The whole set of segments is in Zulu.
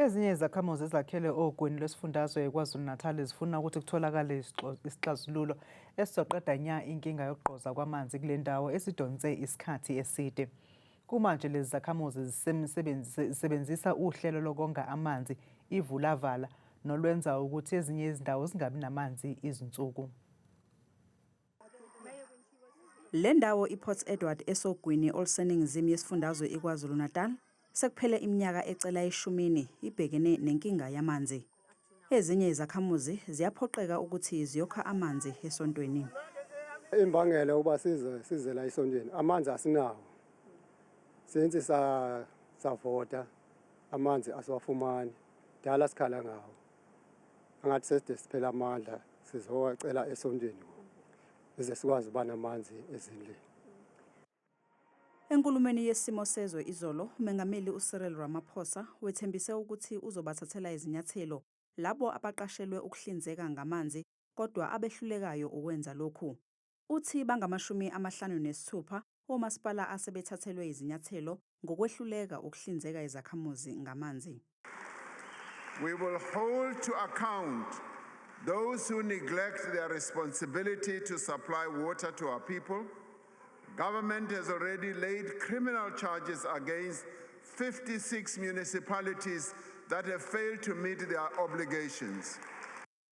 Ezinye izakhamuzi ezakhele ogwini lwesifundazwe KwaZulu-Natal zifuna ukuthi kutholakale isixazululo esizoqeda nya inkinga yokugqoza kwamanzi kule ndawo esidonse isikhathi eside. Kumanje lezi zakhamuzi zisebenzisa uhlelo lokonga amanzi ivulavala nolwenza ukuthi ezinye izindawo zingabi namanzi izinsuku. Le ndawo iPort Edward esogwini oluseningizimu yesifundazwe iKwaZulu-Natal sekuphele iminyaka ecela eshumini ibhekene nenkinga yamanzi. Ezinye izakhamuzi ziyaphoqeka ukuthi ziyokha amanzi esontweni. Imbangela uba size size la esontweni amanzi asinawo since savota amanzi asiwafumani dala sikhala ngawo. angathi seside siphela amandla sizowacela esontweni ukuze sikwazi uba namanzi ezindlini Enkulumeni yesimo sezwe izolo, uMengameli uCyril Ramaphosa wethembise ukuthi uzobathathela izinyathelo labo abaqashelwe ukuhlinzeka ngamanzi kodwa abehlulekayo ukwenza lokhu. Uthi bangamashumi amahlanu nesithupha omasipala asebethathelwe izinyathelo ngokwehluleka ukuhlinzeka izakhamuzi ngamanzi. We will hold to account those who neglect their responsibility to supply water to our people. Government has already laid criminal charges against 56 municipalities that have failed to meet their obligations.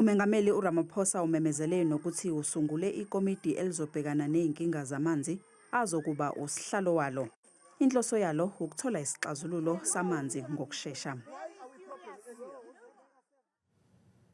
UMengameli uRamaphosa umemezele nokuthi usungule ikomidi elizobhekana nezinkinga zamanzi azokuba usihlalo walo. Inhloso yalo ukuthola isixazululo samanzi ngokushesha.